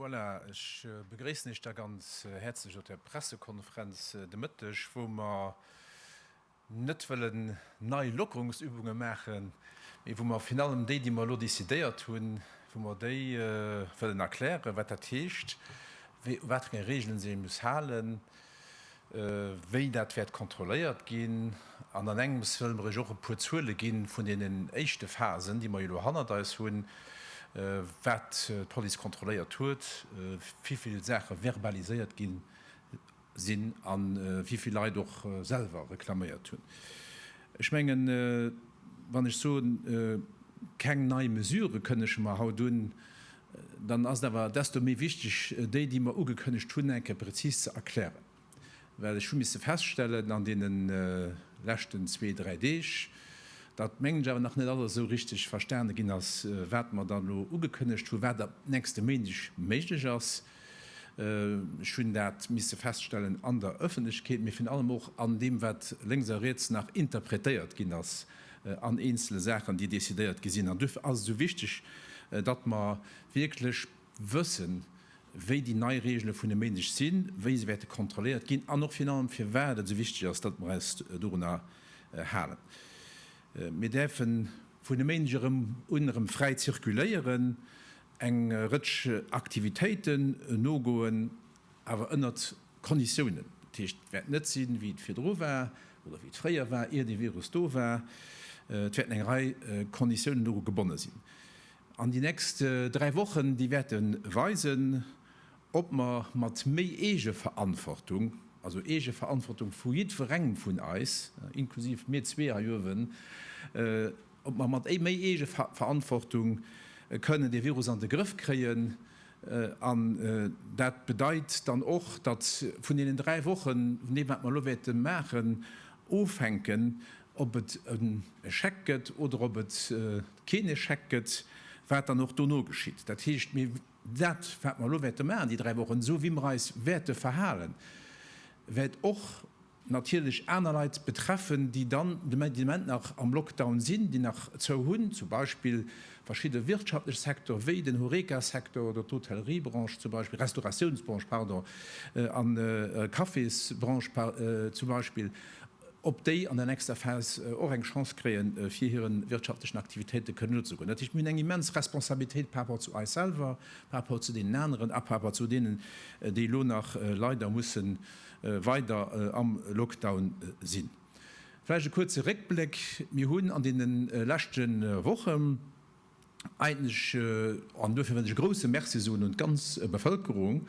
Voilà, ech begréissen Iech da ganz häerzlech op der Pressekonferenz de Mëtteg, wou mer net wëllen nei Lockerungsübunge maachen, mee wou mer virun allem déi, déi mer elo decidéiert hunn, wou mer déi wëllen erklären, wat dat heescht, u wat fir enge Reegelen se ee muss halen. wéi dat wäert kontrolléiert ginn. An an engems wëlle mer Iech och e puer Zuele gi vun deenen éischte Phasen, déi mer jo elo hannert eis hunn, wat d'Police kontrolléiert huet, wéi vill Saache verbaliséiert gi sinn a wéi vill Leit och selwer reklaméiert hunn. Ech mengen, wann ech soen, keng nei Mesurë kënnege mer haut un, dann ass et awer desto méi wichteg, déi, déi mer ugekënnegt hunn, eng Kéier prezis ze erklären. Well ech hu misse feststellen an deene leschten zwee, dräi Deeg, datt, mengen ech, awer nach net alles esou richteg verstane ginn ass, wat mer dann elo ugekënnegt hunn, wat ab nächste Méindeg méiglech ass. Ech hunn dat misse feststellen an der Ëffentlechkeet, mee virun allem och an deem, wat lénks a riets nach interpretéiert ginn ass an eenzele Saachen, déi decidéiert gi sinn. An duerfir ass et esou wichteg, datt mer wierklech wëssen, wéi déi nei Reegele vun e Méindeg sinn, wéi se wäerte kontrolléiert ginn an och virun allem, firwat et esou wichteg ass, datt mer eis dorunner halen. Mir däerfe vun e Méindeg erëm un erëm fräi zirkuléieren. Eng Rëtsch Aktivitéiten nogoen, awer ënnert Konditiounen. Dat heescht, et wäert net sinn, wéi et virdru war oder wéi et fréier war, ier dee Virus do war. Et wäerten eng Rei Konditiounen doru gebonne sinn. An déi nächst dräi Wochen, déi wäerte weisen, ob mer mat méi Eegeverantwortung, also Eegeverantwortung vu jiddwerengem vun eis, inklusiv mir zwee hei uewen, ob mer mat méi Eegeverantwortung kënnen dee Virus an de Grëff kréien. An dat bedeit dann och, datt vun deenen dräi Wochen, vun deem wat mer elo wäerte maachen, ofhänken, ob et en Échec gëtt oder ob et keen Échec gëtt, wat dann och dono geschitt. Dat heescht, mir dat wat mer elo wäerte maachen déi dräi Wochen, esou wéi mer eis wäerte verhalen, wäert och natierlech aner Leit betreffen, déi dann de Moment nach am Lockdown sinn, déi nach zou hunn, zum Beispill verschidde wirtschaftlech Secteur wéi den Horeca-Secteur oder d'Hotelleriebranche zum Beispill, Restauratiounsbranche, pardon, an Cafésbranche zum Beispill, ob déi an der nächster Phas och eng Chance kréien, fir hire wirtschaftlechen Aktivitéite kënnen nozegoen. Dat heescht, mir hunn eng immens Responsabilitéit par rapport zu eis selwer, par rapport zu deenen aneren a par rapport zu deenen, déi elo nach leider mussen weider am Lockdown sinn. Vläicht e kuerze Réckbléck, Mir hunn an deene leschte Woche eigentlech, an duerfir wëll ech e grouse Merci soen un d'ganz Bevëlkerung,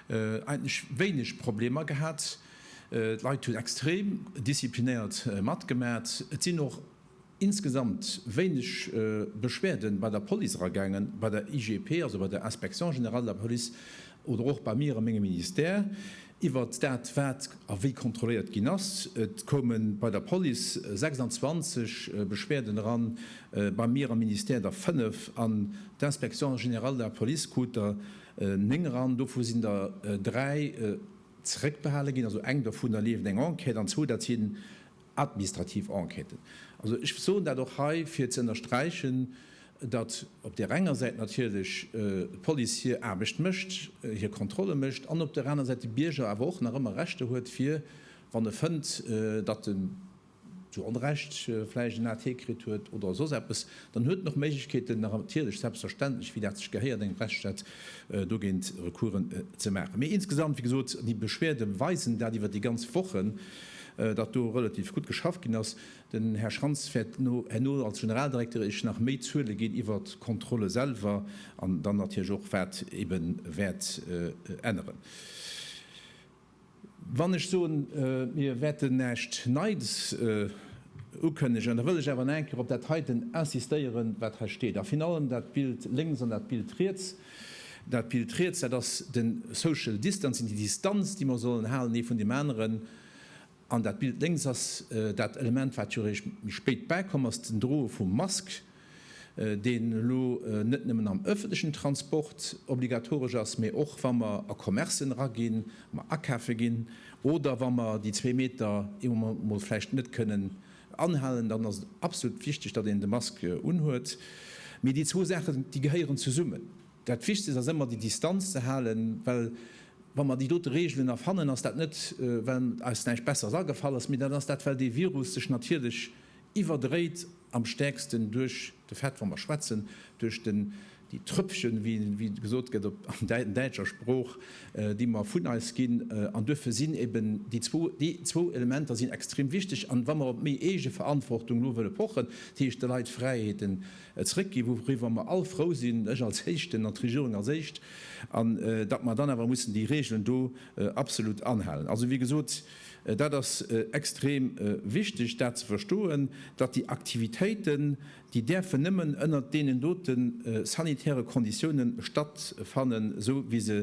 eigentlech wéineg Problemer gehat. D'Leit hunn extrem disziplinéiert matgemaat. Et sinn och insgesamt wéineg Beschwerde bei der Police eragaangen, bei der IGP, also bei der Inspection générale de la police, oder och bei mir a mengem Ministère, iwwert dat, wat a wéi kontrolléiert ginn ass. Et koume bei der Police 26 Beschwerden eran, bei mir am Ministère der 5, an d'Inspection générale de la police krut der 9 eran. Dovu sinn der 3 zeréckbehale ginn, also eng dovunner leeft eng Enquête, an zwou, dat si Administrativ Enquêten. Also ech soen dat och hei, fir ze ënnersträichen, datt op där enger Säit natierlech d'Police hir Aarbecht mécht, hir Kontrolle mécht, an op där aner Säit de Bierger awer och nach ëmmer Rechter huet, fir, wann e fënnt, datt en zu Onrecht vläicht en AT kritt huet oder soss eppes, dann huet en och Méiglechkeeten, natierlech, selbstverständlech, wéi dat sech gehéiert engem Rechtsstaat, dogéint Recoursen ze maachen. Mee insgesamt, wéi gesot, déi Beschwerde weisen dat iwwer déi ganz Wochen, datt do relativ gutt geschafft ginn ass. Den Här Schrantz wäert herno als Generaldirekter Iech nach méi Zuele ginn iwwert d'Kontrolle selwer an dann natierlech och, wat eebe wäert änneren. Wann ech soen, mir wäerten näischt Neits ukënnegen, da wëll ech awer nach eng Kéier op dat heiten insistéieren, wat hei steet, a virun allem dat Bild lénks an dat Bild riets. Dat Bild riets, dat ass de Social Distancing, déi Distanz, déi mer sollen halen ee vun deem aneren. An dat Bild lénks ass dat Element, wat jo réischt méi spéit bäikomm ass, den Droe vum Mask, deen elo net nëmmen am ëffentlechen Transport obligatoresch ass, mee och wa mer a Commercen eraginn, mer akafe ginn oder wa mer déi zwee Meter ee Moment emol vläicht net kënnen anhalen, dann ass et absolut wichteg, datt een de Mask unhuet. Mee déi zwou Saachen, déi gehéieren zesummen. Dat Wichtegst ass ëmmer déi Distanz ze halen, well wa mer déi dote Reegelen erfannen, ass dat net well eis näischt Besseres agefall ass, mee dat ass dat well dee Virus sech natierlech iwwerdréit, am stäerksten duerch de Fait, wa mer schwätzen, duerch den, déi Trëpfchen, wéi gesot gëtt op der däitscher Sprooch, déi mer vun eis ginn. An duerfir sinn eben déi zwou, déi zwou Elementer sinn extrem wichteg. An wa mer op méi Eegeverantwortung elo wëlle pochen, dat heescht de Leit Fräiheeten e zréck ginn, wouriwwer mer all frou sinn, ech als Éischten an d'Regierung als Éischt, an datt mer dann awer mussen déi Regeln do absolut anhalen. Also, wéi gesot, dat ass extrem wichteg, dat ze verstoen, datt déi Aktivitéiten, déi däerfen nëmmen ënnert deenen dote sanitäre Konditiounen stattfannen, esou wéi se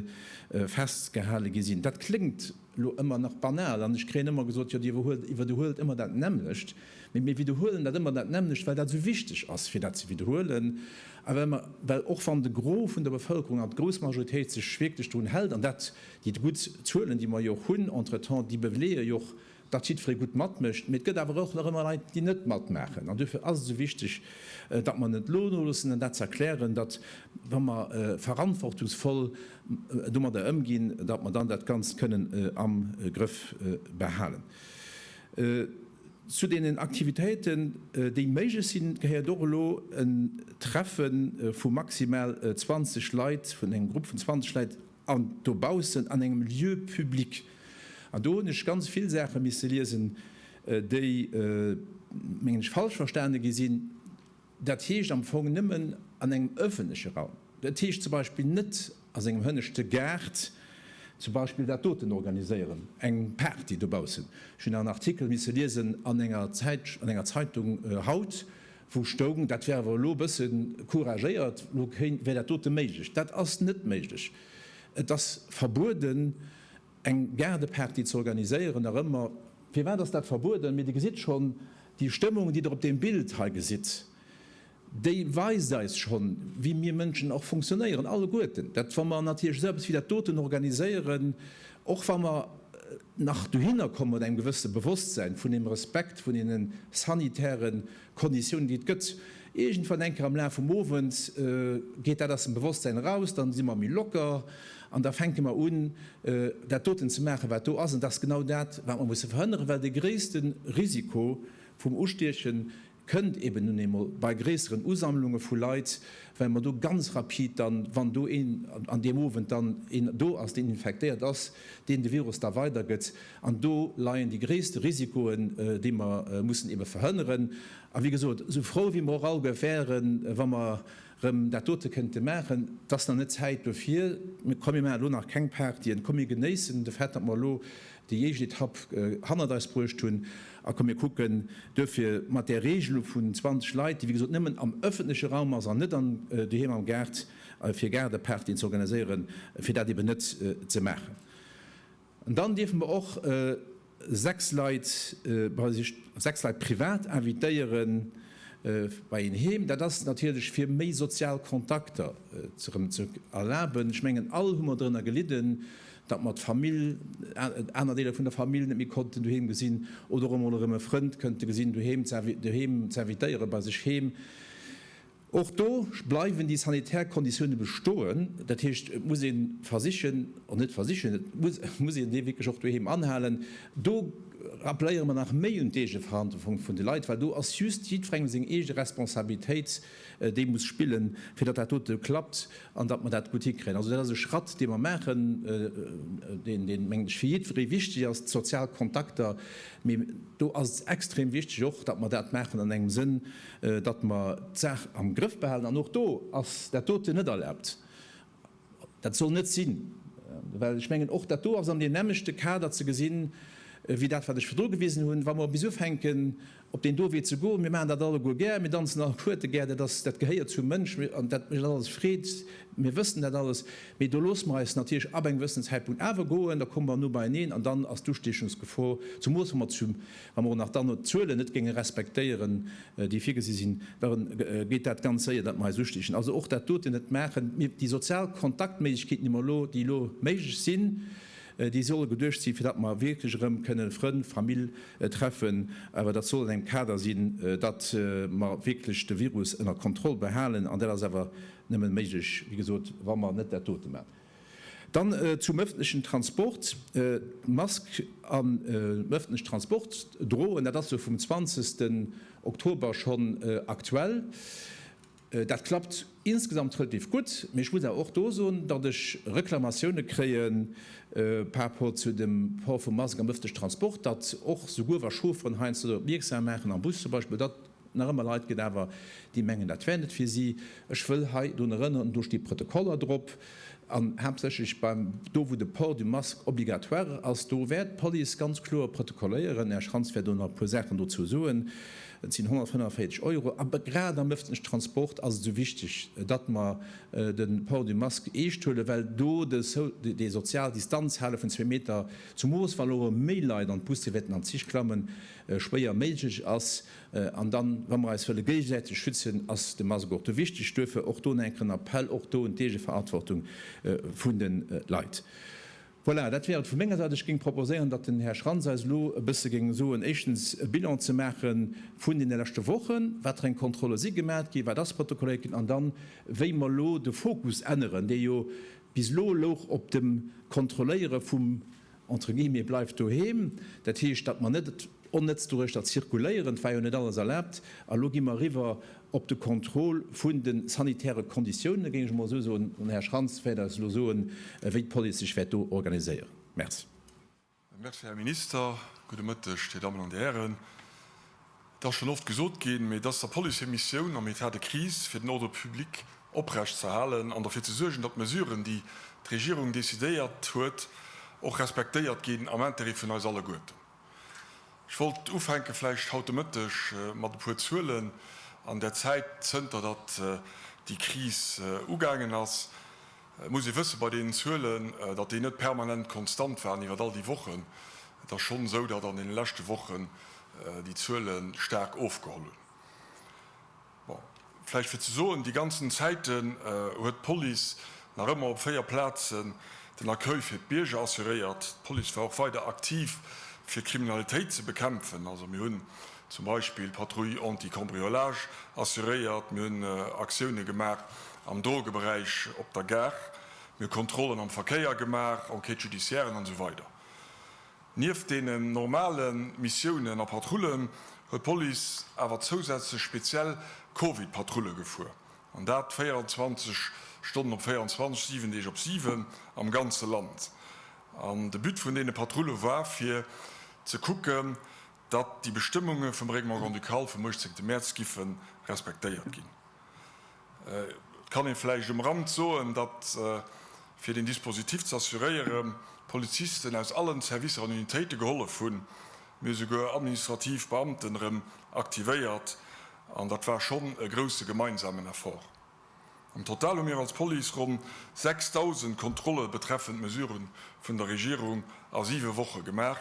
festgehale gi sinn. Dat kléngt elo ëmmer nach banal, an ech kréien ëmmer gesot, Jo, Dir iwwerhuelt ëmmer dat nämmlecht. Mee mir widderhuelen dat ëmmer dat nämmlecht, well dat esou wichteg ass, fir dat ze widderhuelen, a well mer, well och wann de Gros vun der Bevëlkerung an d'grouss Majoritéit sech wierklech drun hält, an dat, déi gutt Zuelen, déi mer jo och hunn entretemps, déi beléie jo och, datt jiddweree gutt matmécht. Mee et gëtt awer och nach ëmmer Leit, déi net matmaachen. An duerfir ass et esou wichteg, datt mer net elo noloossen an dat ze erklären, datt, wa mer verantwortungsvoll domadder ëmginn, datt mer dann dat Ganzt kënnen am Grëff behalen. Zu deenen Aktivitéiten, déi méiglech sinn, gehéiert och elo e Treffe vu maximal 20 Leit, vun engem Grupp vun 20 Leit an dobaussen an engem Lieu public. An do hunn ech ganz vill Saache misse liesen, déi, mengen ech, falsch verstane gi sinn. Dat heescht am Fong nëmmen an engem ëffentleche Raum. Et heescht zum Beispill net a sengem hënneschte Gaart zum Beispill dat doten organiséieren, eng Party dobaussen. Ech hunn en Artikel misse liesen an enger Zäitsch an enger Zeitung haut, wou stoung, dat wär awer elo e bësse couragéiert, elo kéint wär dat dote méiglech. Dat ass net méiglech. Et ass verbueden, eng Gaardeparty ze organiséieren, nach ëmmer. Firwat ass dat verbueden? Mee Dir gesitt schonn, déi Stëmmung, déi Der op deem Bild hei gesitt, déi weist eis schonn, wéi mir Mënschen och funktionéieren, alleguerten. Dat, wa mer natierlech esou eppes wéi dat doten organiséieren, och wa mer nach dohinner komme mat engem gewësse Bewosstsäin vun deem Respekt vun deene sanitäre Konditiounen déi et gëtt. Iergendwann enker am Laf vum Owend geet dat aus dem Bewosstsäin eraus, dann si mer méi locker an da fänke mer un dat doten ze maachen wat do ass. An dat ass genau dat wat mer musse verhënneren, well de gréisste Risiko vum Ustiechen kënnt eben nun eemol bei gréisseren Usammlunge vu Leit, well mer do ganz rapid dann, wann do een an deem Owend dann een do ass deen infektéiert ass, deen de Virus da weidergëtt, An do leien déi gréisste Risikoen, déi mer mussen eebe verhënneren. A wéi gesot, esou frou wéi mer och all ge wären, wa mer erëm dat dote kënnte maachen, et ass nach net d'Zäit dofir. Mee komm, mir maachen elo nach keng Partyen. Komm, mir genéissen de Fait, datt mer elo déi éischt Etapp hannert eis bruecht hunn. A komm, mir kucken duerfir mat där Regelung vun 20 Leit, déi wéi gesot nëmmen am ëffentleche Raum ass an net an doheem am Gaart, fir Gaardepartyen ze organiséieren, fir dat eeben net ze maachen. Dann dierfe mer och sechs Leit bei sech, sechs Leit privat invitéieren bei een heem. Dat ass natierlech fir méi sozial Kontakter erëm ze erlaben. Ech mengen all hu mer drënner gelidden, datt mer d'Famill, aner Deeler vun der Famill net méi konnten doheem gesinn oder och emol erëm e Frënd kënnte gesinn doheem ze invitéieren bei sech heem. Och do bleiwen déi sanitär Konditioune bestoen. Dat heescht, et muss ee versichen, oder net versichen, et muss een dee wierklech och doheem anhalen. Do rappeléiere mer nach méi un d'Eegeverantwortung vun de Leit, well do ass just jiddwerengem seng eege Responsabilitéit, déi e muss spillen, fir datt dat dote klappt an datt mer dat gutt hikréien. Also dat ass e Schratt, dee mer maachen, deen, mengen ech, fir jiddweree wichteg ass, d'sozial Kontakter. Mee do ass et extrem wichteg och, datt mer dat maachen an engem Sënn, datt mer d'Saach am Grëff behalen, an och do ass dat doten net erlaabt, dat soll net sinn, well ech mengen, och dat do ass an deem nämmlechte Kader ze gesinn, wéi dat wat ech virdru gewisen hunn, wa mer bis ufänken op deen do Wee ze goen. Mir maachen dat alleguer gär, mir danzen all d'Kuerte gär, dat ass, dat gehéiert zum Mënsch, an dat mécht eis alles Freed, mir wëssen dat alles, mee do loosse mer eis natierlech ab engem gewëssenen Zäitpunkt awer goen, da komme mer no beieneen, an dann ass d'Ustiechungsgefor, zumols wa mer zu Wa mer och nach dann d'Zuelen net géinge respektéieren, déi virgesi sinn, da geet dat ganz séier, datt mer eis ustichen. Also och dat doten net maachen. Mir, déi sozial Kontaktméiglechkeeten, déi mer elo, déi elo méiglech sinn, déi solle geduecht sinn, fir datt mer wierklech erëm kënnen Frënn, Famill treffen. Awer dat soll an engem Kader sinn, datt mer wierklech de Virus ënner Kontroll behalen. An dat ass awer nëmme méiglech, wéi gesot, wa mer net dat dote maachen. Dann zum öffentlechen Transport, D'Mask am öffentlechen Transport droen, dat ass jo vum 20 den Oktober schonn aktuell. Dat klappt insgesamt relativ gutt, mee ech muss awer och do soen, datt ech Reklamatioune kréien par rapport zu dem Port vum Mask am öffentlechen Transport, datt och souguer wa Chaufferen heiansdo dorop opmierksam maachen, am Bus zum Beispill, datt Nach ëmmer Leit gëtt awer, déi mengen, dat wär net fir si. Ech wëll hei drun erënneren, do sti Protokoller drop, an haaptsächlech beim, do wou de Port du masque obligatoire ass, do wäert d'Police ganz kloer protokolléieren. Här Schrantz wäert elo nach e puer Saachen dozou soen. Et sinn 145 Euro. A grad am ëffentlechen Transport ass et esou wichteg, datt mer de Port du masque eescht huelen, well do déi sozial Distanz hale vun zwee Meter, zumools wa elo méi Leit an d'Busse wäerten, an d'Zich klammen, schwéier méiglech ass. An dann, wa mer eis wëlle géigesäiteg schützen, ass de Mask och do wichteg. Duerfir och do en enken Appell, och do un d'Eegeverantwortung vun de Leit. Voilà, dat wär et vu menger Säit. Ech géing proposéieren, datt den Här Schrantz eis elo e bësse géing soen, éischtens e Bilan ze maache vun deene leschte Wochen, wat fir eng Kontrolle si gemat ginn, wat ass protokolléiert ginn, an dann, wéi mer elo de Fokus änneren, dee jo bis elo louch op dem Kontrolléiere vum entre guillemets, bleift doheem. Dat heescht, datt mer net onnëtz doduerch da zirkuléieren, et war jo net alles erlaabt. A lo gi mer eriwwer op de Contrôle vun de sanitäre Konditiounen, géing ech emol esou soen. Den Här Schrantz wäert eis elo soen, wéi d'Police sech wäert do organiséieren. Merci. Merci, Här Minister. Gudde Mëtteg, Dir Dammen an Dir Hären. Et ass schonn oft gesot ginn, mee et ass der Police hir Missioun am État de crise, fir den Ordre public oprecht ze halen an derfir ze suergen, datt d'Mesuren, déi d'Regierung decidéiert huet, och respektéiert ginn am Intérêt vun eis alleguerten. Ech wollt ufänke vläicht haut de Mëtteg mat e puer Zuelen an der Zäit, zënter datt déi Kris ugaangen ass. Et muss ee wësse bei deenen Zuelen, datt déi net permanent konstant waren iwwer all déi Wochen. Et ass schonn esou, datt an deene leschte Wochen déi Zuele staark ofgeholl hunn. Bon, vläicht fir ze soen, déi ganzen Zäiten huet d'Police nach ëmmer op véier Plazen den Accueil fir d'Bierger assuréiert. D'Police war och weider aktiv, fir d'Kriminalitéit ze bekämpfen. Also mir hunn Zum Beispill d'Patrouille anti-cambriolage assuréiert. Mir hunn Aktioune gemaach am Drogeberäich op der Gare. Mir hu Kontrollen am Verkéier gemaach, Enquêtes judiciairen an esou weider. Nieft deenen normale Missiounen a Patrullen huet d'Police awer zousätzlech speziell Covid-Patrulle gefuer. An dat 24 Stonnen op 24, 7 Deeg op 7 am ganze Land. An de But vun deene Patrulle war fir ze kucken, datt déi Bestëmmunge vum Règlement grand-ducal vum 18 Mäerz giffe respektéiert ginn. Et kann ee vläicht um Rand soen, datt, fir deen Dispositif ze assuréiere, Polizisten aus allen Servicer an Unitéite gehollef hunn, mee esouguer administrativ Beamten erëm aktivéiert, an dat war schonn e grousse gemeinsamen Effort. Am Total hu mir als Police ronn 6.000 Kontrolle betreffend Mesurë vun der Regierung a siwe Woche gemaach,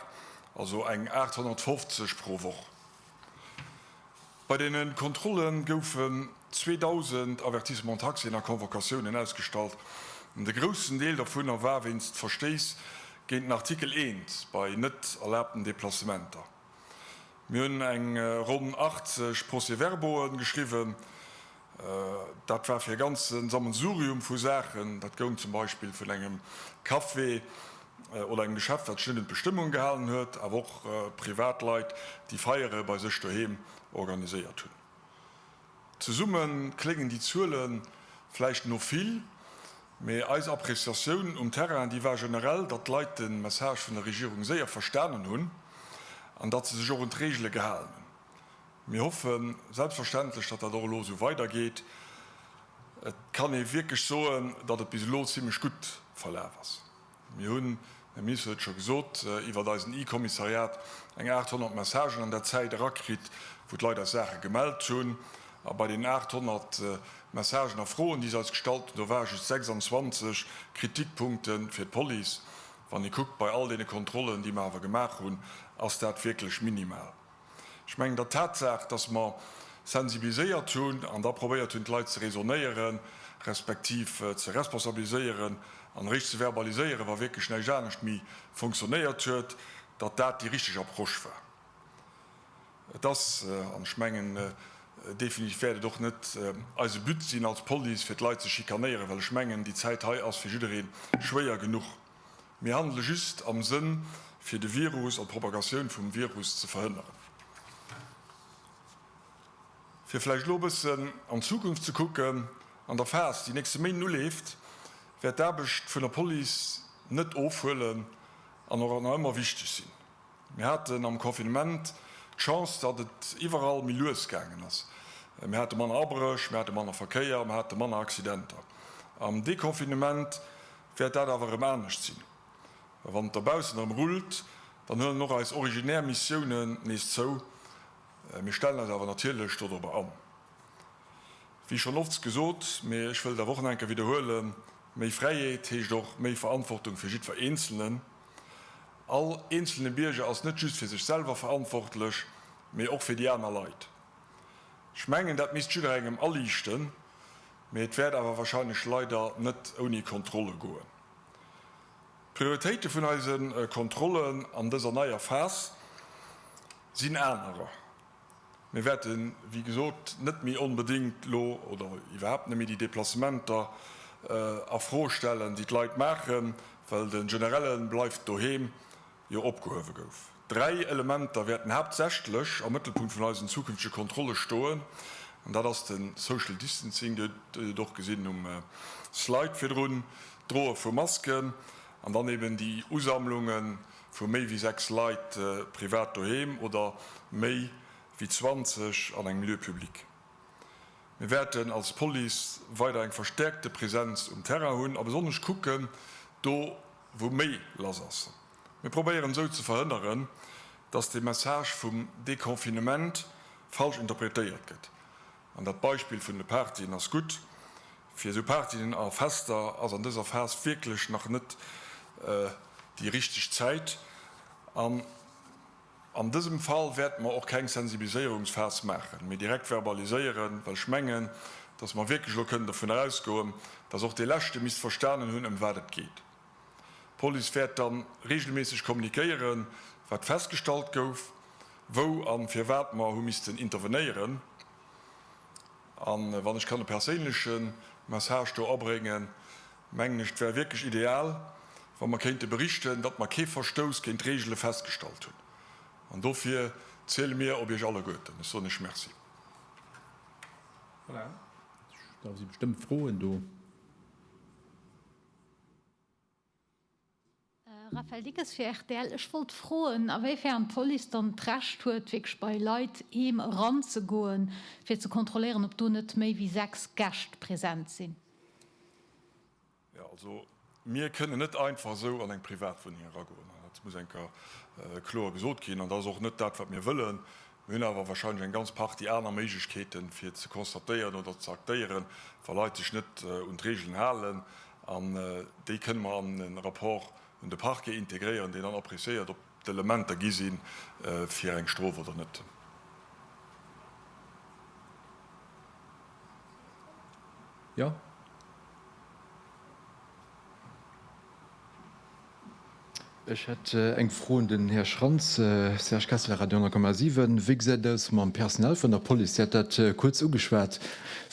also eng 850 pro Woch. Bei deene Kontrolle goufen 2.000 Avertissements taxés a Convocatiounen ausgestallt. De groussen Deel dovunner war wéinst Verstéiss géint den Artikel I bei net erlaabten Deplacementer. Mir hunn eng ronn 80 Procès-verbauen geschriwwen. Dat war fir e ganze Sammelsurium vu Saachen. Dat goung zum Beispill vun engem Café oder engem Geschäft, wat sech net un d'Bestëmmungen gehalen huet, awer och Privatleit, déi Feiere bei sech doheem organiséiert hunn. Zesumme kléngen déi Zuele vläicht no vill, Mee eis Appreciatioun um Terrain, déi war generell, datt d'Leit de Message vun der Regierung séier verstanen hunn an datt se sech och un d'Reegele gehalen hunn. Mir hoffe selbstverständlech, datt dat och elo esou weidergeet. Et kann ee wierklech soen, datt et bis elo zimmlech gutt verlaf ass. Mir hunn, den Minister huet et scho gesot, iwwert eisen e-Kommissariat eng 800 Messagen an der Zäit erakritt, wou d'Leit eis Saache gemellt hunn. A bei deenen 800 Messagen a Froen, déi se eis gestallt hunn, do ware just 26 Kritikpunkte fir d'Police. Wann ee kuckt, bei all deene Kontrollen, déi mer awer gemaach hunn, ass dat wierklech minimal. Ech mengen, der Tatsaach, dass mer sensibiliséiert hunn an da probéiert hunn, d'Leit ze raisonnéieren, respektiv ze responsabiliséieren an eréischt ze verbaliséieren, wa wierklech näischt anescht méi fonctionnéiert huet, datt dat déi richteg Approche war. Et ass, an ech mengen definitiv wäert et och net eise But sinn als Police, fir d'Leit ze schikanéieren, well ech mengen, déi Zäit hei ass fir jidderee schwéier genuch. Mir handele just am Sënn, fir de Virus an d'Propagatioun vum Virus ze verhënneren. Fir vläicht elo e bëssen an d'Zukunft ze kucken, An der Phas, déi nächste Méint uleeft, wäert d'Aarbecht vun der Police net ofhuelen an och nach ëmmer wichteg sinn. Mir haten am Confinement d'Chance, datt et iwwerall méi lues gaangen ass. Mir hate manner Abréch, mir hate manner Verkéier, mir hate manner Accidenter. Am Deconfinement Wäert dat awer erëm anescht sinn, wann et dobaussen erëm rullt, dann huelen och eis originär Missiounen nees zou. Mir stellen eis awer natierlech dodrobber an. Wéi schonn oft gesot, mee ech wëll et awer och nach eng Kéier widderhuelen, Méi Fräiheet heescht och méi Verantwortung fir jiddwer Eenzelnen. All eenzelne Bierger ass net just fir sech selwer verantwortlech, mee och fir déi aner Leit. Ech mengen, dat misst jidderengem aliichten, Mee et wäert awer wahrscheinlech leider net ouni Kontrolle goen. D'Prioritéite vun eise Kontrollen an dëser neier Phas sinn anerer. Mir wäerte wéi gesot net méi onbedéngt elo oder iwwerhaapt net méi déi Deplacementer a Fro stellen, déi d'Leit maachen, well de Generelle bleift doheem Jo opgehuewe gouf. Dräi Elementer wäerten haaptsächlech am Mëttelpunkt vun eisen zukünftege Kontrolle stoen, an dat ass de Social Distancing, Dir hutt et och gesinn um Slide virdrun, d'Droe vu Masken an dann eben déi Usammlunge vu méi wéi sechs Leit privat doheem oder méi wéi 20 an engem Lieu public. Mir wäerten als Police weider eng verstäerkte Präsenz um Terrain hunn a besonnesch kucken, do wou méi lass ass. Mir probéieren esou ze verhënneren, datt de Message vum Deconfinement falsch interpretéiert gëtt. An dat Beispill vun de Partyen ass gutt. Fir esou Partyen a Fester ass an dëser Phas wierklech nach net déi richteg Zäit. An dësem Fall wäerte mer och keng Sensibiliséierungsphas maachen, mee direkt verbaliséieren, well ech mengen, dass mer wierklech elo kënnen dovunner ausgoen, dass och dee Leschte misst verstanen hunn, ëm wat et geet. D'Police wäert da reegelméisseg kommunikéieren, wat festgestallt gouf, wou a firwat mer hu missten intervenéieren. A wann ech kann e perséinleche Message do abréngen, Mengen ech, et wär wierklech ideal, wa mer kéinte berichten, datt mer kee Verstouss géint d'Reegele festgestallt hunn. An dofir ziele mir op Iech alleguerten. Ech soen Iech Merci. Voilà. Da si bestëmmt Froen do. Raphaël Dickes fir rtl, Ech wollt froen, a wéi fern d'Police dann d'Recht huet, wierklech bei Leit heem eranzegoen, fir ze kontrolléieren, ob do net méi wéi sechs Gäscht present sinn? Jo, also mir kënnen net einfach esou an eng Privatwunneng eragoen. Dat muss enker kloer gesot ginn. An dat ass och net dat, wat mir wëllen. Mir hunn awer wahrscheinlech eng ganz Partie aner Méiglechkeeten, fir ze constatéieren oder ze aktéieren, wa Leit sech net un d'Regeln halen. An déi kënne mer an e Rapport un de Parquet integréieren, deen dann appréciéiert, ob d'Elementer gi si fir eng Strof oder net. Ech hätt eng Fro un den Här Schrantz. Serge Kessler, Radio 10,7. Wéi gesäit et aus mam Personal vun der Police? Dir hat dat kuerz ugeschwat.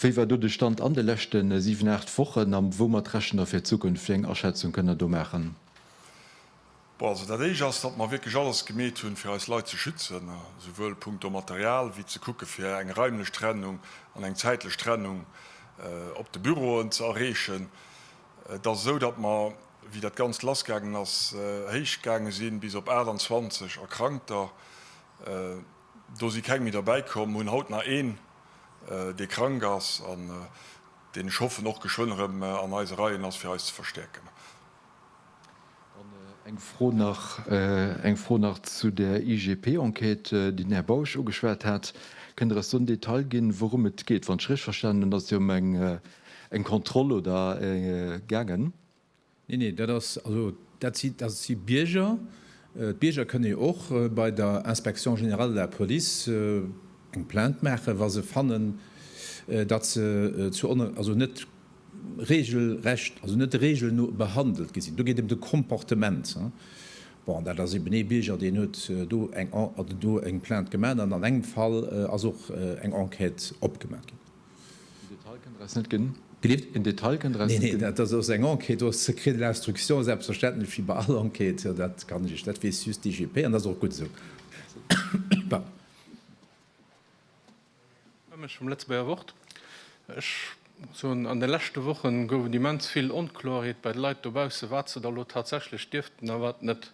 Wéi war do de Stand an de leschte siwen, aacht Wochen a woumat rechent Der fir d'Zukunft? Wéi eng Aschätzung kënnt Der do maachen? Bon, also dat éischt ass, datt mer wierklech alles gemeet hunn, fir eis Leit ze schützen, souwuel punkto Material wéi ze kucke fir eng raimlech Trennung an eng zäitlech Trennung op de Büroen ze erreechen. Et ass esou, datt mer, wéi dat Ganzt lassgaangen ass, héich gaange sinn, bis op 28 Erkrankter. Do si keng méi derbäi komm. Mer hunn haut nach een, dee krank ass an deen, ech hoffen, och geschwënn erëm an eise Reien ass, fir eis ze verstäerken. Dann eng Fro nach, eng Fro nach zu der IGP-Enquête, déi den Här Bausch ugeschwat hat. Kënnt Der eis do en Detail ginn, wourum et geet? Wann ech richteg verstanen hunn, ass et jo ëm eng Kontroll, oder, gaangen. Nee, nee, dat ass, also dat si, dat si Bierger. D'Bierger kënne jo och bei der Inspection générale de la police eng Plainte maachen, wa se fannen, datt se zu, also net Reegelrecht, also net der Reegel no, behandelt gi sinn. Do geet et ëm de Comportement. Bon, dat ass eben ee Bierger, deen huet do eng En, oder do eng Plainte gemaach an an engem Fall ass och eng Enquête opgemaach ginn. En Detail kënnt eraus net ginn. Gelift? En Detail kënnt eraus net ginn. Neen, neen, dat ass eng Enquête, do ass Secret de l'instruction, selbstverständlech, wéi bei all Enquête. Dat kann ech Iech, dat weess just d'IGP an dat ass och gutt esou. Pardon. Ech vum Lëtzebuerger Wort. Ech soen, an de leschte Woche gouf et immens vill Onkloerheet bei de Leit dobausse, wat se da lo tatsächlech dierften a wat net.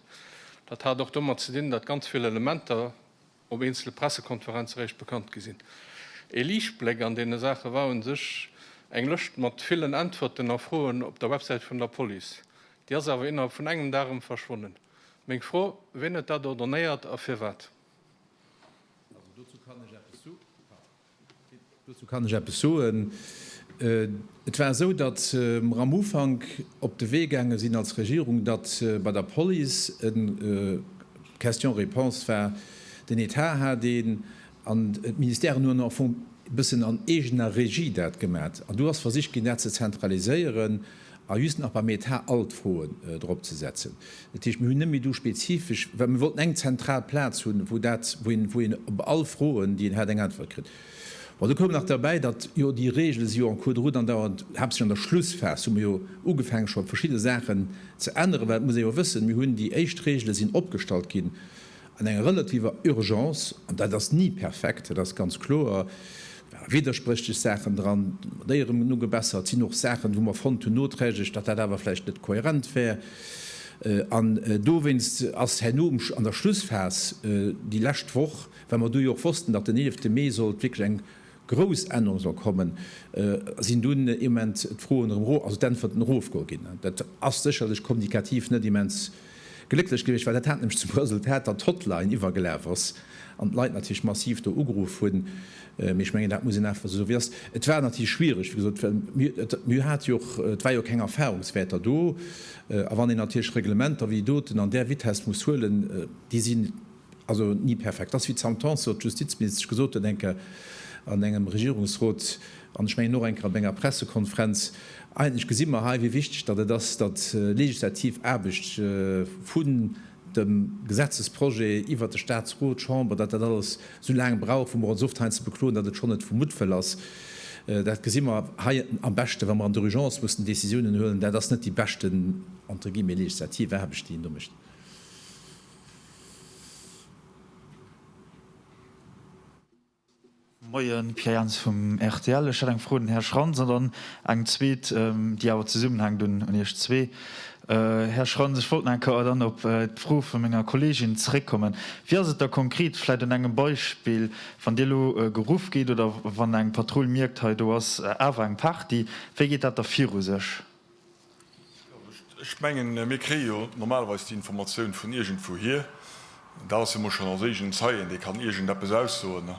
Dat hat och domat ze dinn, datt ganz vill Elementer op eenzele Pressekonferenze réischt bekannt gi sinn. Ee Liichtbléck an deene Saache war u sech eng Lëscht mat villen Äntwerten a Froen op der Websäit vun der Police. Déi ass awer innerhalb vun engem Dag erëm verschwonnen. Meng Fro, Wien huet dat ordonnéiert a firwat? Dozou kann ech eppes soen. Et war esou, datt mer am Ufank op de Wee gaange sinn als Regierung, datt bei der Police e Question-réponse war, den Etat hat een an d'Ministèren hunn au fond e bëssen an eegener Regie dat gemat. An do ass versicht ginn, dat ze zentraliséieren. A just nach beim Etat all d'Froen drop ze setzen. Dat heescht, mir hunn net méi do spezifesch, well mir wollten eng zentral Plaz hunn, wou dat, wou een op all Froen, déi een hat, eng Äntwert kritt. Bon, do koum nach derbäi, datt jo déi Regele si jo en cours de route an dauern, haaptsächlech an der Schlussphas hu mir jo ugefaange scho verschidde Saachen ze änneren, well et muss ee jo wëssen, mir hunn déi éischt Regele sinn opgestallt ginn An enger relativer Urgence, an dat ass ni perfekt, dat ass ganz kloer, ware widderspréchlech Saachen dran, mat déi erëm nu gebessert sinn, och Saachen, wou mer fonnt hunn noträglech, datt dat awer vläicht net kohärent wär. An dowéinst ass herno an der Schlussphas, déi lescht Woch, well mer do jo och wossten, datt den eelefte Mee sollt wierklech eng grouss Ännerung soll kommen, sinn dunn ee Moment d'Froen erëm, also d'Äntwerten erofgoe ginn. Dat ass sécherlech kommunikativ net immens. Glécklech gewiescht war, dat hat nämlech zum Resultat, datt d'Hotline iwwergelaf ass an d'Leit natierlech massiv do ugeruff hunn. Mee ech mengen, dat muss een einfach esou soen, wéi ass. Et war natierlech schwiereg, wéi gesot, well mir hate jo och, et war jo keng Erfahrungswäerter do. A wann een natierlech Reglementer wéi doten an där Vitess muss huelen, déi sinn, Also ni perfekt. Et ass wéi d'Sentenz sot, d'Justizministesch gesot huet enker an engem Regierungsrot, an ech mengen och enker op enger Pressekonferenz, eigentlech gesi mer hei, wéi wichteg datt et ass, datt legislativ Aarbecht vun dem Gesetzesprojet iwwert de Statsrot, d'Chamber, datt dat alles esou laang brauch, wou mer ons oft hei ze bekloen, datt et schonn net vu Muttwëll ass. Dat gesi mer hei am beschte wa mer an der Urgence mussen Décisiounen huelen. Dat ass net déi beschten, entre guillemets, legislativ Aarbecht, déi een do mécht. Moien, Pierre Jans vum rtl. Ech hätt eng Fro un den Här Schrantz an dann eng zweet, déi awer zesummenhänkt, un Iech zwee. Här Schrantz, ech wollt nach eng Kéier dann op d'Fro vu menger Kolleegin zréckkommen. Wéi ass et da konkret, vläicht un engem Beispill, wann Dir elo geruff gitt oder wann eng Patrull mierkt, hei do ass awer eng Party, wéi geet dat da viru sech? Ech mengen, mir kréie jo normalerweis déi Informatioun vun iergendwouhier. Dat ass jo mol schonn als eegenen Zeien, dee kann iergendeppes aussoen.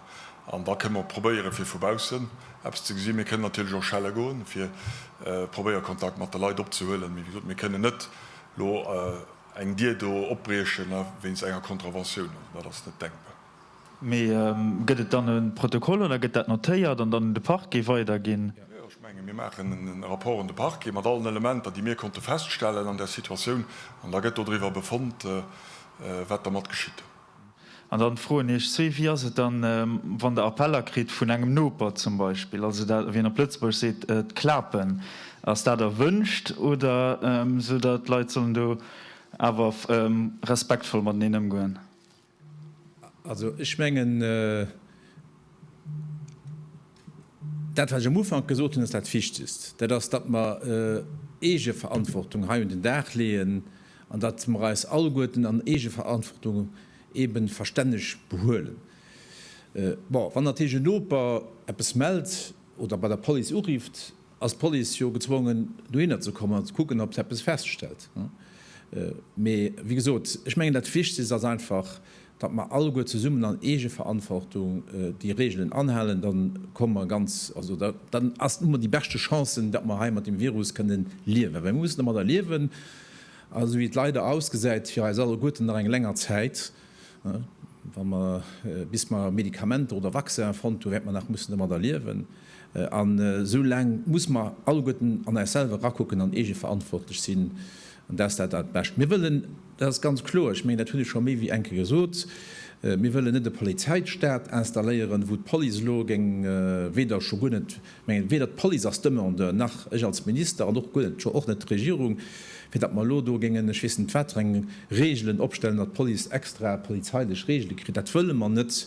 An da kënne mer probéieren, fir vu baussen eppes ze gesinn. Mir kënnen natierlech och schelle goen, fir probéieren, Kontakt mat de Leit opzehuelen. Mee wéi gesot, mir kënnen net elo eng Dier do opbriechen wéinst enger Contraventioun. Also dat ass net denkbar. Mee gëtt et dann e Protokoll oder gëtt dat notéiert an dann un de Parquet weiderginn? Jo, ech menge mir maachen e Rapport un de Parquet mat allen Elementer, déi mir konnte feststellen an där Situatioun, an da gëtt dodriwwer befonnt, wat dermat geschitt. An dann d'Fro un Iech zwee, Wéi ass et dann, wann Der Appeller kritt vun engem Noper zum Beispill, also dat, wéi een op Lëtzebuerg seet, d'Klapen? Ass dat erwünscht oder esou, datt d'Leit sollen do awer respektvoll mateneen ëmgoen? Also, ech mengen, dat, wat ech am Ufank gesot hunn, ass dat Wichtigst, dat ass, datt mer Eegeverantwortung hei un den Dag leeën an datt mer eis alleguerten an Eegeverantwortung eebe verstänneg behuelen. Bon, wann natierlech en Noper eppes mellt oder bei der Police urifft, ass d'Police jo gezwongen dohinner ze kommen an ze kucken ob se eppes feststellt. Mee wéi gesot, ech mengen dat Wichtegst ass einfach, datt mer alleguer zesummen an Eegeverantwortung déi Reegelen anhalen, dann komme mer ganz, also dann hu mer déi beschte Chancen, datt mer hei mat dem Virus kënnen liewen, well mir mussen domadder liewen, esou wéi et leider ausgesäit, fir eis alleguerten nach eng länger Zäit. Bis mer Medikamenter oder Vaccinen fonnt hunn, wäerte mer nach mussen domadder liewen. An esou laang muss mer alleguerten an eis selwer erakucken an eegeverantwortlech sinn. An dat ass dat Allerbescht. Mir wëllen, dat ass ganz kloer, ech mengen, dat hunn ech scho méi wéi eng Kéier gesot, mir wëllen net e Polizeistat installéieren, wou d'Police elo géing weder, scho guer net, Ech mengen, weder d'Police als Demandeur, nach ech als Minister, an och guer net, scho och net d'Regierung, fir datt mer elo do géingen ech weess net wat fir eng Regelen opstellen, datt d'Police extra polizeilech Regele kritt. Dat wëlle mer net.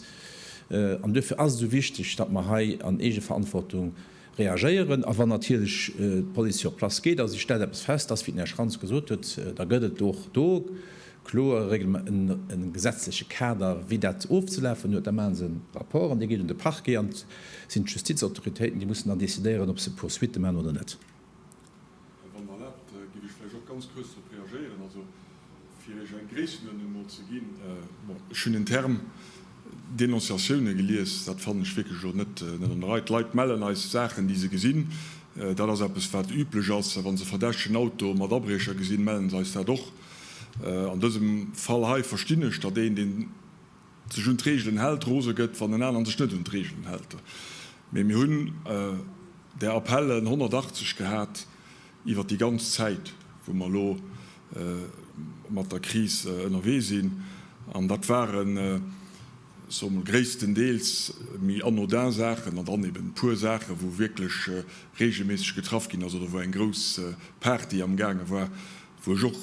An duerfir ass et esou wichteg, datt mer hei an Eegeverantwortung reagéieren. A wann natierlech d'Police sur place geet a si stellt eppes fest, dass, wéi den Här Schrantz gesot huet, da gëtt et och do kloer e gesetzleche Kader, wéi dat ofzelafen huet. Da maache se e Rapport an dee geet un de Parquet an et sinn d'Justizautoritéiten, déi mussen dann decidéieren, ob se Poursuitte maachen oder net. A wann Der erlaabt, giff ech vläicht och ganz kuerz drop reagéieren, also fir Iech eng Gréissenuerdnung emol ze ginn. Bon, ech hunn den Term Denonciatiounen gelies. Dat fannen ech wierklech elo net an der Rei. D'Leit mellen eis Saachen, déi se gesinn. Dat ass eppes, wat üblech ass. A wa se verdächtegen Auto mat Abriecher gesinn, mellen se eis dat och. An dësem Fall hei verstinn ech, datt een, deen sech un d'Reegelen hält, rose gëtt, wann en aneren sech net un d'Reegelen hält. Mee mir hunn där Appellen 180 gehat iwwert déi ganz Zäit, wou mer elo mat der Kris ënnerwee sinn. An dat waren, ech soe mol, gréisstendeels méi anodin Saachen an dann eben e puer Saachen, wou wierklech reegelméisseg getraff ginn ass oder wou eng grouss Party amgaange war, wou ech och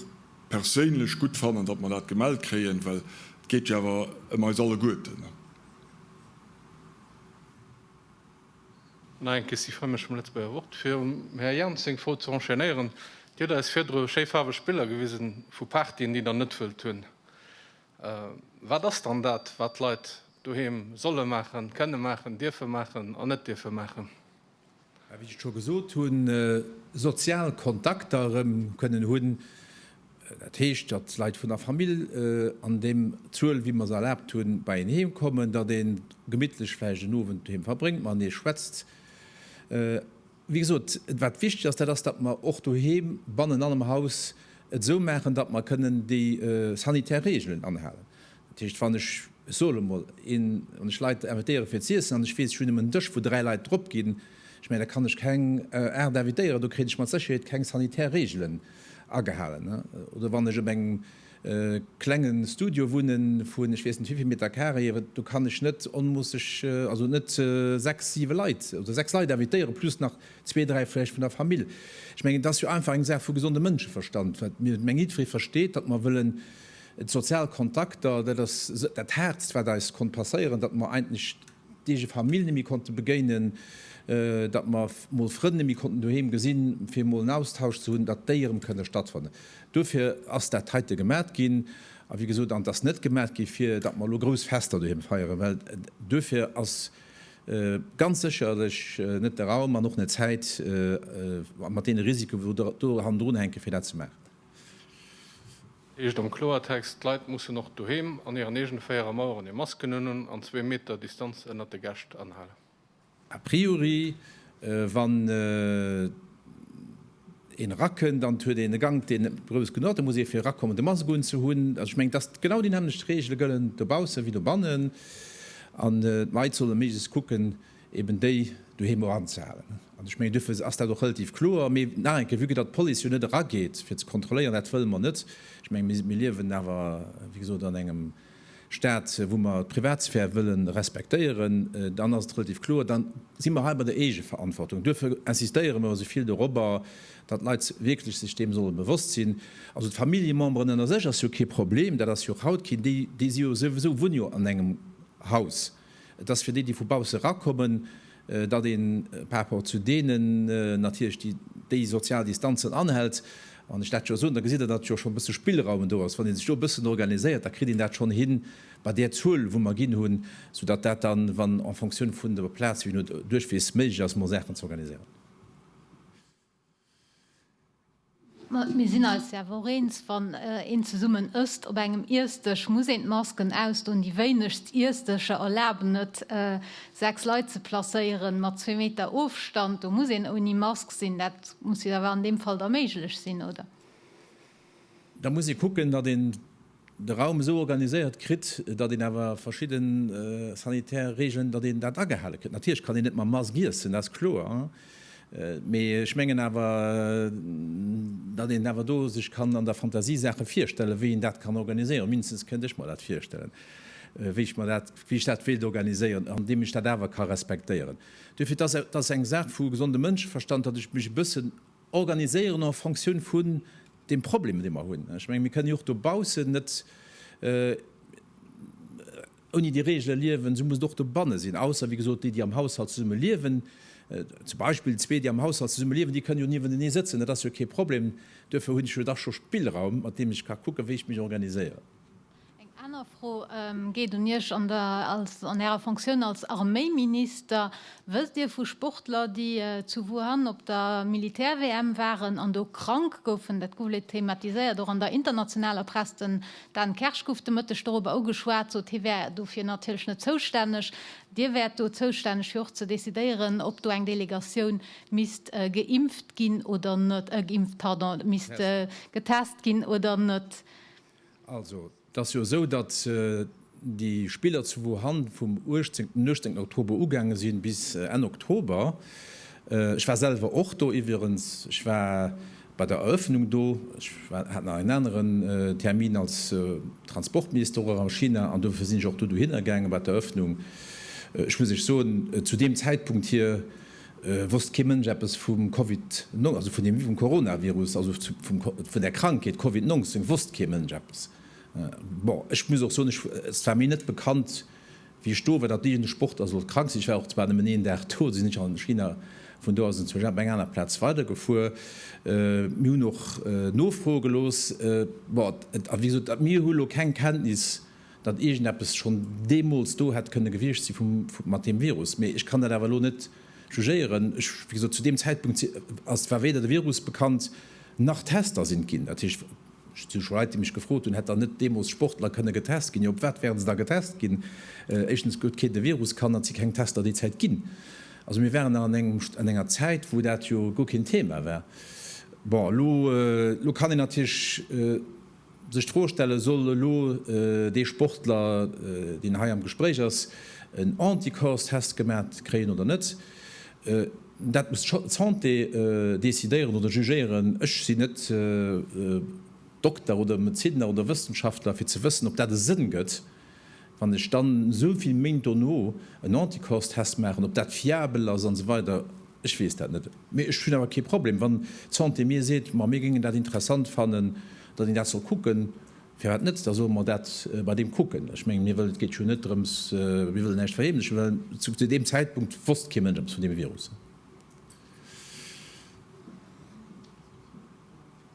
perséinlech gutt fannen, datt mer dat gemellt kréien, well et geet jo awer ëm eis alleguerten. Nach eng Question fir mech vum Lëtzebuerger Wort, fir um Här Jans seng Fro ze enchaînéieren. Dir hutt eis virdru schéi faarweg Biller gewisen vu Partyen, déi Der net wëllt hunn. Wat ass dann dat, wat d'Leit doheem solle maachen, kënne maachen, dierfe maachen an net dierfe maachen? wéi ech et scho gesot hunn, sozial Kontakter erëm kënnen hunn, dat heescht, datt d'Leit vun der Famill an deem Zuel, wéi mer se erlaabt hunn, bei een heem kommen, datt ee gemittlech vläicht en Owend doheem verbréngt, matenee schwätzt. Wéi gesot, wat wichteg ass, dat ass, datt mer och doheem bannen an am Haus et esou maachen, datt mer kënnen déi sanitär Reegelen anhalen. Dat heescht, wann ech, ech soe lo mol, een, wann ech Leit invitéiere fir z'iessen an ech weess, ech hunn nëmmen en Dësch, wou dräi Leit drop ginn, ech mengen, da kann ech keng aacht invitéieren, do kritt ech mat Sécherheet keng sanitär Reegelen agehalen. Oder wann ech op engem klenge Studio wunnen, vun ech weess net wivill Meter carré, do kann ech net onmoosseg, also net sechs, siwe Leit oder sechs Leit invitéiere plus nach zwee, dräi vläicht vun der Famill. Ech mengen, et ass jo einfach eng Saach vu gesondem Mënscheverstand, wat mir, ech mengen, jiddweree versteet, datt mer wëllen, D'sozial Kontakter, dat ass dat Haartst, wat eis konnt passéieren, datt mer eigentlech d'eege Famill net méi konnte begéinen, datt mer mol Frënn net méi konnten doheem gesinn, fir emol en Austausch ze hunn, datt déi erëm kënne stattfannen. Duerfir ass dat heite gemat ginn. A wéi gesot, an et ass net gemat gi fir datt mer elo grouss Fester doheem feieren, well duerfir ass ganz sécherlech net de Raum an och net d'Zäit, mat deene Risiken, wou do hannendrun hänken, fir dat ze maachen. Heescht am Kloertext, d'Leit mussen och doheem an hiren eegene véiere Maueren hir Masken unhunn an zwee Meter Distanz ënnert de Gäscht anhalen. A priori, wann een erakënnt an et huet een e Gank, deen net grouss genuch ass, da muss ee fir erakommen de Mask unzehunn. Also ech mengen, dass genau déi nämmlecht Reegele gëllen dobausse wéi dobannenn an d'Leit solle méiglechst kucken, eben déi doheem och anzehalen. An ech mengen, duerfir ass dat och relativ kloer. Mee nach eng Kéier, vue que datt d'Police jo net erageet, fir ze kontrolléieren, dat wëlle mer net. Ech menge mir liewen awer, wéi gesot, an engem Stat, wou mer d'Privatsphär wëlle respektéieren. Dann ass et relativ kloer, da si mer hei bei der Eegeverantwortung. Duerfir insistéiere mer esou vill dorobber, datt d'Leit wierklech sech deem solle bewosst sinn. Also d'Familljememberen ënner sech ass jo kee Problem, dat ass jo och haut keen. Déi si jo souwisou, wunne jo an engem Haus. Et ass fir déi, déi vu bausse erakommen, datt ee par rapport zu deenen natierlech déi déi sozial Distanzen anhält. Wann ech dat jo soen, da gesitt Der, datt jo schonn e bësse Spillraum do ass. Wann ee sech do e bëssen organiséiert, da kritt een dat schonn hin bei där Zuel, wou mer ginn hunn, soudatt dat dann, wann en fonction vun der Plaz, wéi se no duerch weess, méiglech ass, emol Saachen ze organiséieren. Mir sinn eis jo awer och eens, wann een zesummen ësst op engem Iessdësch, muss een d'Masken ausdoen. Déi wéinegst Iessdëscher erlaben et, sechs Leit ze placéieren, mat zwee Meter Ofstand. Do muss een ouni Mask sinn. Dat muss jo awer an deem Fall da méiglech sinn, oder? Da muss ee kucken, datt een de Raum esou organiséiert kritt, datt een awer verschidde sanitär Regeln, datt een dat agehale kritt. Natierlech kann een net mam Mask iessen, dat ass kloer, mee ech mengen awer, datt een awer do sech kann an der Fantasie Saache virstellen, wéi een dat kann organiséieren. Mindestens kënnt ech mer dat virstellen, wéi ech mer dat, wéi ech dat wéilt organiséieren, andeem ech dat awer ka respektéieren. Duerfir, dat ass eng Saach vu gesonde Mënscheverstand, datt ech mech e bëssen, organiséieren en fonction vun deem Problem, dee mer hunn. Ech mengen, mir kënnen jo och dobaussen net ouni déi Regele liewen, esou muss et och dobanne sinn, ausser, wéi gesot, déi, déi am Haushalt zesumme liewen, zum Beispill zwee, déi am Haushalt zesumme liewen, déi kënnen jo niewentenee sëtzen, dat ass jo kee Problem. Duerfir hunn ech jo dach scho Spillraum, mat deem ech ka kucken, wéi ech mech organiséieren. Eng aner Fro geet un Iech an Ärer Fonctioun als Arméiminister. Wësst Dir vu Sportler, déi zu Wuhan op der Militär-WM waren an do krank goufen? Dat gouf leet thematiséiert, och an der internationaler Press. Den Dan Kersch gouf de Mëtteg dorobber ugeschwat, sot hie wär dofir natierlech net zoustänneg. Dir wäert do zoustänneg fir och ze decidéieren, ob do eng Delegatioun misst geimpft ginn oder net, geimpft, pardon, misst getest ginn oder net. Also, et ass jo esou, datt déi Spiller zu Wuhan vum 18, den 18 Oktober ugaange sinn, bis Enn Oktober. Ech war selwer och do iwwerens. Ech war bei der Eröffnung do. Ech war, hat nach en aneren Termin als Transportminister och a China an dofir sinn ech och do dohinner gaangen, bei d'Eröffnung. Ech muss lech soen, zu deem Zäitpunkt hir Wosst kee Mënsch eppes vum Covid, also vun deem vum Coronavirus, also vun der Krankheet Covid 19 wosst kee Mënsch eppes. Bon, ech muss och soen, ech, et war mir net bekannt, wéi ech do war, datt iergend e Sportler sollt krank sinn. Ech war och zwar nëmmen een Dag do, sinn ech an China, vun do aus sinn ech zu Gap, eng aner Plaz, weidergefuer. Mir hunn och Nofroe gelooss. Bon, et, a wéi gesot, mir hu lo keng Kenntnis, datt iergendeppes schonn deemools do hätt kënne gewiescht si mat deem Virus. Mee ech kann dat awer elo net jugéieren. Ech, wéi gesot, zu deem Zäitpunkt ass, war weder de Virus bekannt, nach Tester sinn d'ginn. Dat heescht, ech hu scho Leit, déi mech gefrot hunn, hätt dann net deemools Sportler kënne getest ginn? Jo, op wat wären se da getest ginn? Éischtens huet keen de Virus kannt an et si keng Tester déi Zäit ginn. Also mir waren nach an enger Zäit, wou dat jo guer keen Thema war. Bon, elo kann een natierlech. Sech d'Fro stelle soll elo dee Sportler, deen hei am Gespréich ass, en Anticorps-Test gemat kréien oder net. Dat muss d'Santé decidéieren oder jugéieren. Ech sinn net Dokter oder Medezinner oder Wëssenschaftler, fir ze wëssen, ob dat e Sënn gëtt. Wann ech dann esou vill Méint dono en Anticorps-Test maachen, ob dat fiabel ass an esou weider, ech weess dat net. Mee ech hunn awer kee Problem, wann d'Santé mir seet, ma mir géingen dat interessant fannen, datt een dat soll kucken, firwat net, da solle mer dat bei deem kucken. Ech mengen, mir wëllen, et geet jo net drëms, mir wëllen näischt verheemlechen, well zu deem Zäitpunkt wosst kee Mënsch eppes vun deem Virus.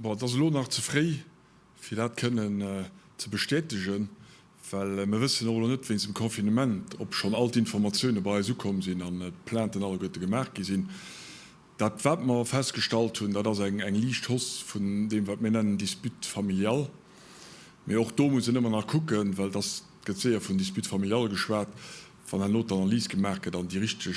Bon, et ass elo nach ze fréi, fir dat kënnen ze bestätegen, well mir wëssen och elo net wéinst dem Confinement, ob schonn all d'Informatioune bei eis ukomm sinn an d'Plainten alleguerte gemaach gi sinn. Dat, wat mer festgestallt hunn, dat ass eng liicht Hausse vun deem, wat mir nennen Dispute familiale. Mee och do muss een ëmmer nach kucken, well et ass, et gëtt séier vun Dispute familiale geschwat, wann herno d'Analys gemaach gëtt an déi richteg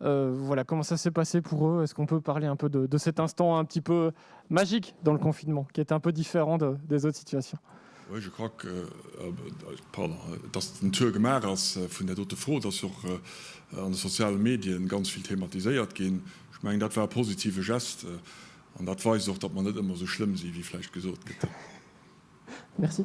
voilà comment ça s'est passé pour eux, est-ce qu'on peut parler un peu de, de cet instant un petit peu magique dans le confinement, qui est un peu différent de, des autres situations? Oui, je crois que, euh, euh pardon, euh, dass den Tour gemacht ass euh, vun der dote Fro, dass och euh, an de soziale Medien ganz viel thematiséiert ginn. Ich meng, dat war positive Gest euh, an dat weist och, dass man net ëmmer so schlimm si, wie vläicht gesot gëtt. Merci.